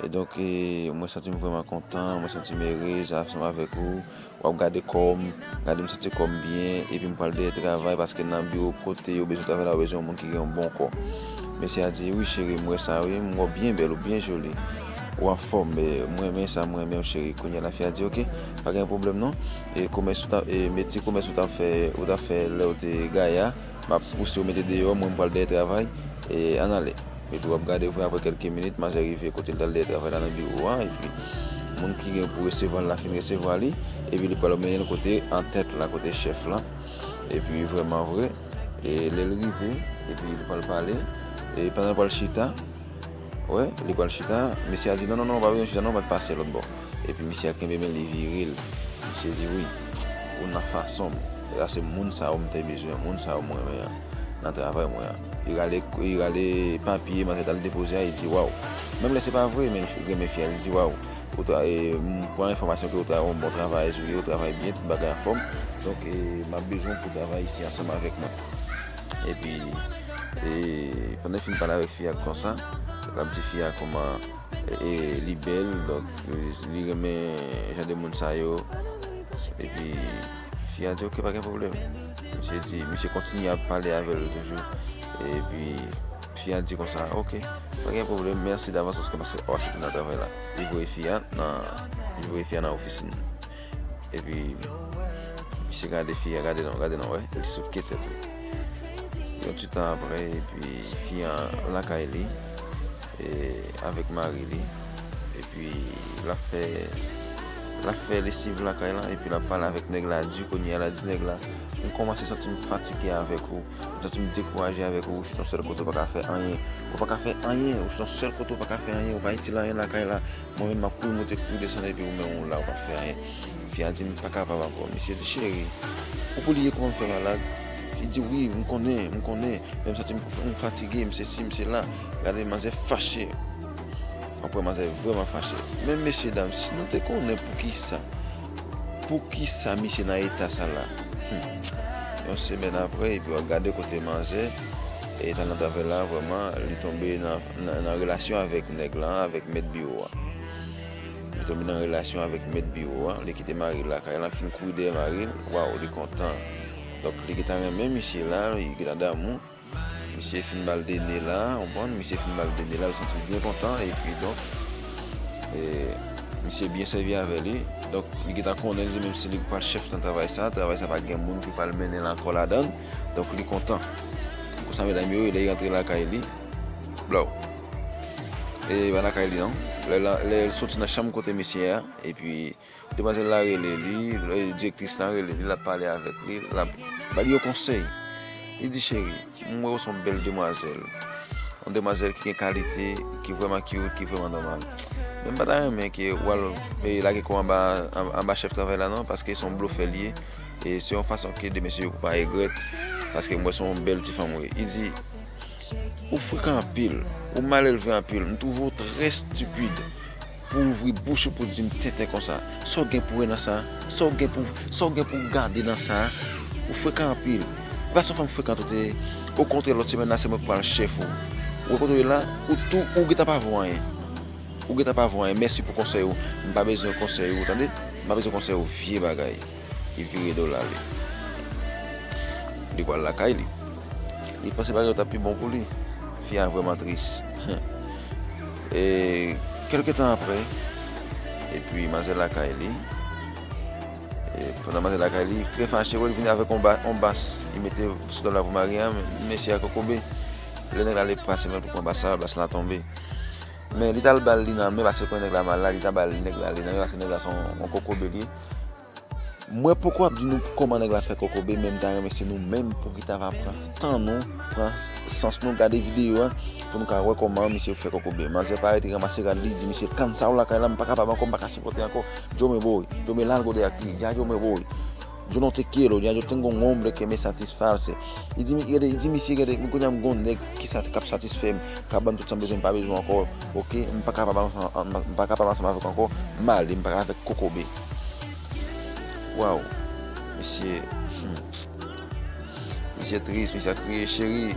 E donk mwen santi m vrèman kontan, mwen santi m erez ansanm avèk ou. W ap gade kò m, gade m santi kò m byen. Epi m pral dèyè travay paske nan biwo kote yo bezwen travay la yo bezwen yon moun ki gen yon bon kò. Mesye a di, wi cheri, m wè sa wi, m wè w byen bèl, ou byen joli. Ou anfòm, m renmen sa m renmen w cheri. Kounye a lafi a di, ok, pa gen pwoblèm non. E komès ou t ap, metye komès ou t ap fè, ou t ap fè lè ou te gaya, m ap pouse w mete deyò, mwen m pral dèyè travay. Ann ale. Yo tou ap gade vre apre kelke minit manzè rive kote li tal deye travay la nan biwo a epi moun ki gen pou resevwa l la fin resevwa li epi li pral mennen l kote antèt la kote chèf lan epi vreman vre e lè l rive epi li pral pale e pandan l pral chita wè li pral chita mesye a di non non non pa bezwen chita non bat pase lòtbò. Epi misye ap kenbe men li vire l. Misye di wi, ou nan fason m. E sa se moun sa yo m te bezwen, moun sa yo m renmen an nan travay mwen an. Li rale li rale papye manzè t al depoze a, li di waw. Menm lè se pa vre men li renmen fi a, li di waw ou ta e m pran enfòmasyon ke ou ta yon bon travayèz ou ye, ou travay byen, tout bagay anfòm. Donk e m ap bezwen w pou w travay isi ansanm avèk mwen. Epi e pandan l fin pale avèk fi a konsa, l ap di fi a kòman. e li bèl donk li renmen jan de moun sa yo epi fi a di ok pa gen pwoblèm misye di misye kontinye ap pale avè l toujou epi fi a di konsa ok pa gen pwoblèm mèsi davans paske paske ou asepte nan travay la li voye fi a nan li voye fi a nan ofisin epi misye gade fi a gade l gade l an wè li souke tèt li yon ti tan aprè epi fi a lakay li avèk mari li epi lap fè lap fè lesiv lakay la epi lap pale avèk nèg la di kounye a la di nèg la m kòmanse santi m fatige avèk ou m santi m dekouraje avèk ou ou se yon sèl kote ou pa ka fè anyen ou pa ka fè anyen ou se yon sèl kote ou pa ka fè anyen ou pa itil anyen lakay la mwen menm map kouri moute kouri desann epi ou menm ou la ou pap fè anyen fi a di m pa kapab ankò misye di cheri ou pou li ye kouman m fè malad li di wi m konnen m konnen men m santi m fatige m sesi m sela. Gade manzè fache. Mwen kwè manzè vreman fache. Men mesye dam si nou te konnen poukisa poukisa misye nan eta sa la. Humm. Yon semèn aprè epi wap gade kote manzè e talan travèl la vreman li tonbe nan relasyon avèk nèg la avèk mèt biwo a. Li tonbe nan relasyon avèk mèt biwo a. Li kite maril lakay lan fin kouri dèyè maril. Waw li kontan. Donk li gentan renmen misye la, li gentan damou. Misye fin bal de ne la, ou konprann? Misye fin bal de ne la, li santi l byen kontan epi donk e misye byen sèvi avè li. Donk li gentan konnen li menm si li pa chèf nan travay sa, travay sa pa gen moun ki pral mennen l ankò ladan l. Donk li kontan. Konsa medam yo, lè li rantre lakay li, blow! E pa lakay li non. Lè li soti nan chanm kote misye a epi. Demwazèl la rele li, direktris lan rele li, l ap pale avèk li, l ap ba li yon konsèy. Li di, cheri, m wè ou se yon bèl demwazèl. Yon demwazèl ki gen kalite, ki vrèman kyout, ki vrèman nòmal. Men m pa ta renmen ke ou al lage kò anba chèf travay la non, paske se yon blofè li ye. E se yon fason ke de mesye yo pou pa egrèt, paske m wè se yon bèl ti fanm ou ye. Li di, ou frekan anpil, ou malelve anpil, m twouve ou trè stipid. Pou ouvri bouch ou pou di m tenten konsa. Sa w gen pou wè nan sa? Sa w gen pou sa w gen pou w gade nan sa? Ou frekan anpil. E pa son fanm frekant ou te ye. Okontrè lòt semèn la se mwen k pral chèf ou. Ou wè kote w ye la? Ou tou ou gentan pa vo anyen. Ou gentan pa vo anyen. Mèsi pou konsèy ou. M pa bezwen konsèy ou tande. M pa bezwen konsèy ou vye bagay. li vire do l ale. Li pral lakay li. Li panse bagay yo t ap pi bon pou li. Fi a vrèman tris. E kèlke tan apre, epi manzè lakay li, pandan manzè lakay li, trè fache wè li vini avèk yon bas. Li mete sou tab la pou mari a, mesye a kokobe. Lè nèg la ale pase men l pou pran bas la, bas la tonbe. Men li tal bal li nan men paske l konnen nèg la mal la li ta bal nèg la li nan men paske nèg la son on kokobe li ye mwen poko ap di nou kòman nèg la fè kokobe men m ta renmen se nou menm pou ki ta va pran tan nou pran sans nou gade videyo a pou nou ka wè kòman misye fè kokobe manzè pa rete ranmase rad li di misye kannsaww lakay la m pa kapab ankò m pa ka sipòte ankò jomebooy jomel al gode ak li ya jomebooy. Yo non te kelo, ya yo ten gon hombre que me satisfarse. Li di mi, li di misye gade mwen kounya m gon nèg ki sa kap satisfè m, kap ban m tout sa m bezwen m pa bezwen ankò ok, m pa kapab m pa kapab ansanm avèk ou ankò, m ale m pral avèk kokobe. Waw misye humm misye tris misye ap kriye cheri.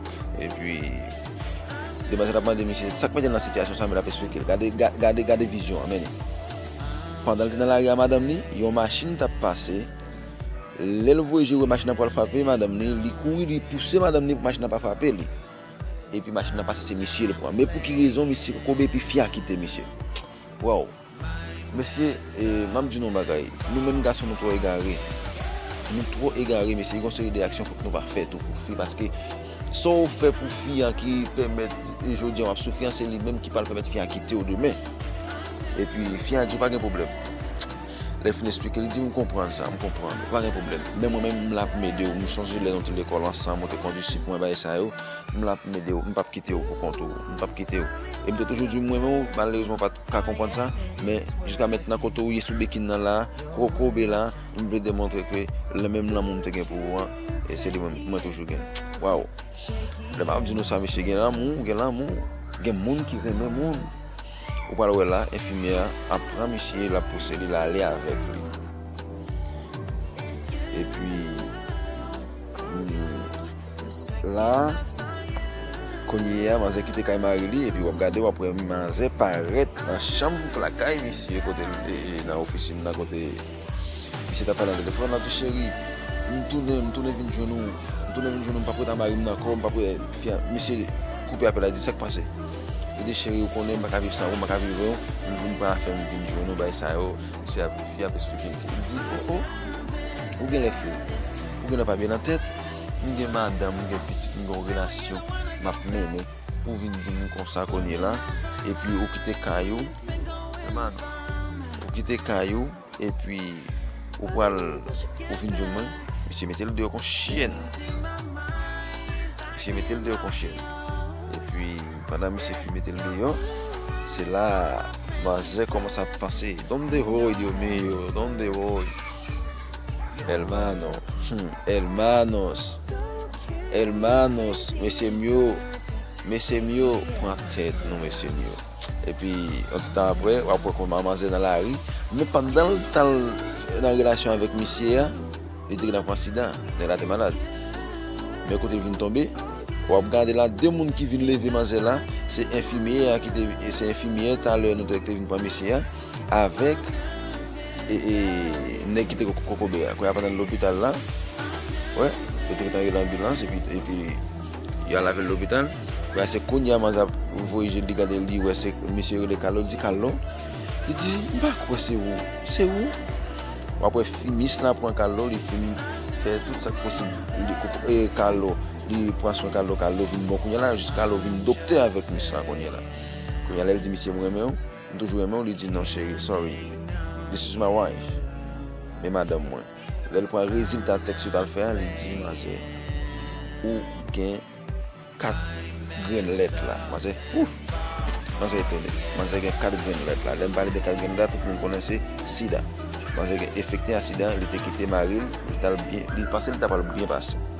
Epi Demwazèl ap mande misye sak mete l nan sitiyasyon sa men l ap esplike l. Gade, gade vizyon an mennen. Pandan l te nan lari a madanm li, yon machin t ap pase. Lè l voye je l wè machin nan pral frape madanm li, li kouri li pouse madanm li pou machin nan pa frape li. Epi machin nan pase se misye l pran. Men pou ki rezon misye koube epi fi a kite misye. Waww. Mesye map di nou yon bagay nou menm gason nou twò egare nou twò egare mesye gen yon seri de aksyon fòk nou pa fè tou pou fi paske sa ou fè pou fi an ki pèmèt jodi an wap soufri an se li menm ki pral pèmèt fi an kitew demen epi fi an di ou pa gen pwoblèm lè fin esplike li di m konprann sa m konprann ou pa gen pwoblèm men mwen menm m la pou m edew m sonje lè nou te lekòl ansanm ou te kondi sik mwen bagay sa yo m la pou m edew m pap kitew pou kont ou m pap kitew e m te toujou di mwen menw malerezman ou pat. ka konprann sa, men jiska mentnan kote ou ye sou bekin nan la, kote ou koube la, m vle demontre ke le menm lanmou m te gen pou ou an, se li menm mwen toujou gen. Waww! Lè m ap di nou sa mesye gen lanmou, gen lanmou, gen moun ki renmen moun. Ou pral wè la, enfimyè a ap pran misye, l ap pouse li, l a ale avèk li. Epi, la kounyea manzè kite kay mari li epi wap gade wap wè manzè parèt nan chanm lakay misye kote nan ofisin nan kote misye tap pale nan telefòn lap di cheri m tounen m tounen vin jwenn ou m tounen vin jwenn ou m pap ret a marim nan kò m pap ret misye koupe apèl la di sak pase li di cheri ou konnen m paka viv san ou m paka viv ren ou vin pran afèm vin jwenn ou bay sa yo misye ap fi ap esplike misye li di o o ou genlè fou ou genlè pa byen nan tèt. m gen madanm m gen pitit m gen yon relasyon map mennen pou vin di m konsa kounye la epi ou kite kay ou e manou ou kite kay ou epi ou pral ou vin jwenn mwen misye metel deyò kon chyèn misye metel deyò kon chyèn epi pandan misye fin metel deyò se la manzè kòmanse ap panse donde voy dios mio donde voy Elmano humm elmanos elmanos mesyem yo mesyem yo pran tèt nou mesyem yo epi yon ti tan aprè wap wè kòman manzè nan lari men pandan l tan l nan relasyon avèk misye a li te gentan pran sida nèg la te malad men kote l vin tonbe wap gade la de moun ki vin leve manzè la se enfimyè a ki te se enfimyè talè nou te wè ki te vin pran misye a. avèk nèg ki te kokobe a. Kounya pandan li lopital la, wè, yo te metan rele anbilans epi yo al avèl lopital. Kounya se kounya Manza voye je li gade li wè se mesye rele Kalo, li di Kalo, li di m pa kwè se ou, se ou? W ap wè finis la pran Kalo, li fin fè tout sa k posib, Kalo, li pran swen Kalo, Kalo vin bon kounya la, jis Kalo vin doktè avèk mis la kounya la. Kounya lè l di misye m renmen w. M toujou renmen w li di non cheri sorry this is my wife men madanm mwen lè l pran rezilta tèks yo tal fè a li di manzè ou gen 4 grenn lèt la manzè ooh manzè etone manzè gen 4 grenn lèt la lè m pale de 4 grenn lèt la tout moun konnen se sida manzè gen efekte a sida li te kite mari l li tal byen li panse li ta pral byen pase.